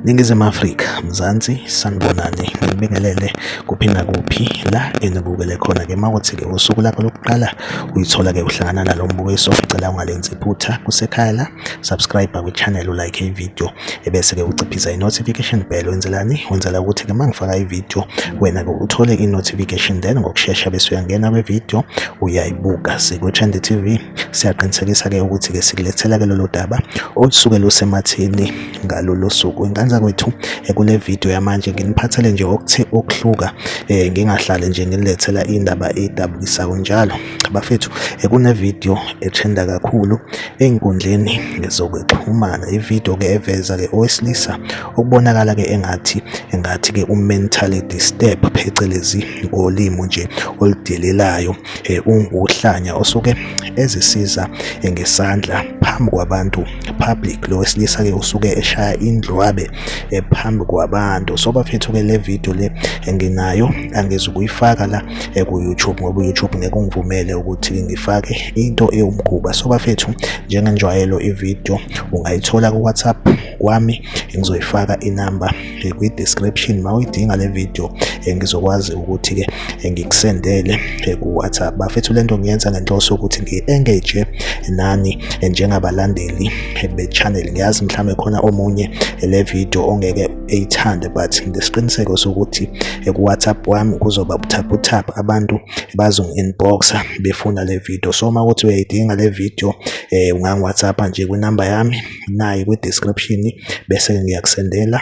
Ningizimu Afrika, Mzansi, sanibonani, ngibingelele kuphi nakuphi la enibukele khona ke mawuthi-ke usuku lakho lokuqala uyithola-ke uhlangana nalo mbukiso, ngicela ungalenzi iphutha kusekhaya la. subscribe kwichannel ulike ivideo ebese-ke uciphisa i-notification bell wenzelani wenzela ukuthi-ke uma ngifaka ivideo wena-ke uthole i-notification then ngokushesha bese uyangena kwivideo uyayibuka sikwitrend tv siyaqinisekisa-ke ukuthi-ke sikulethela-ke lolu daba olusuke lusemathini ngalolu suku inkanza kwethu ekule video yamanje nginiphathele nje okuthe okuhluka um ngingahlale nje nginilethela indaba edabukisayo njalo bafethu eh, kunevidiyo ethenda kakhulu ey'nkundleni zokuxhumana ividiyo-ke eveza-ke owesilisa okubonakala-ke engathi engathi-ke u-mentally disturb phecelezi ngolimo nje oludelelayo eh, unguhlanya osuke ezisiza eh, ngesandla phambi kwabantu public lo wesilisa-ke usuke eshaya indlwabe phambi kwabantu so bafethu-ke le vidiyo le nginayo angizukuyifaka la eh, ku-youtube ngoba uyoutube ngeke ungivumele ukuthi ngifake into ewumkhuba so bafethu njengenjwayelo ividiyo ungayithola ku-whatsapp kwami ngizoyifaka inamba eh, kwi-description ma uyidinga le vidiyo eh, ngizokwazi ukuthi-ke ngikusendele ku-whatsapp bafethu le nto ngiyenza ngenhloso yokuthi ngi-engage nani njengabalandeli be-channel ngiyazi mhlawumbe khona omunye le vidiyo ongeke eyithande but ngilesiqiniseko sokuthi kuwhatsapp wami kuzoba buthaphuthaphu abantu bazongi-inboxa befuna le video so uma ukuthi uyayidinga le video um eh, ungangiwhatsappa nje kwinamba yami nayi kwi-description bese ngiyakusendela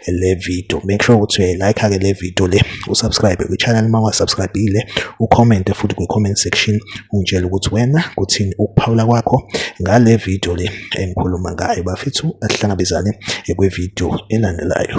le video make sure ukuthi uyayilike-ke le video le usubscribe kwi-channel uma ungasubscribile ucommente futhi kwi-comment section ungitshela ukuthi wena kuthini ukuphawula kwakho ngale video le engikhuluma ngayo bafethu asihlangabezane kwividiyo elandelayo.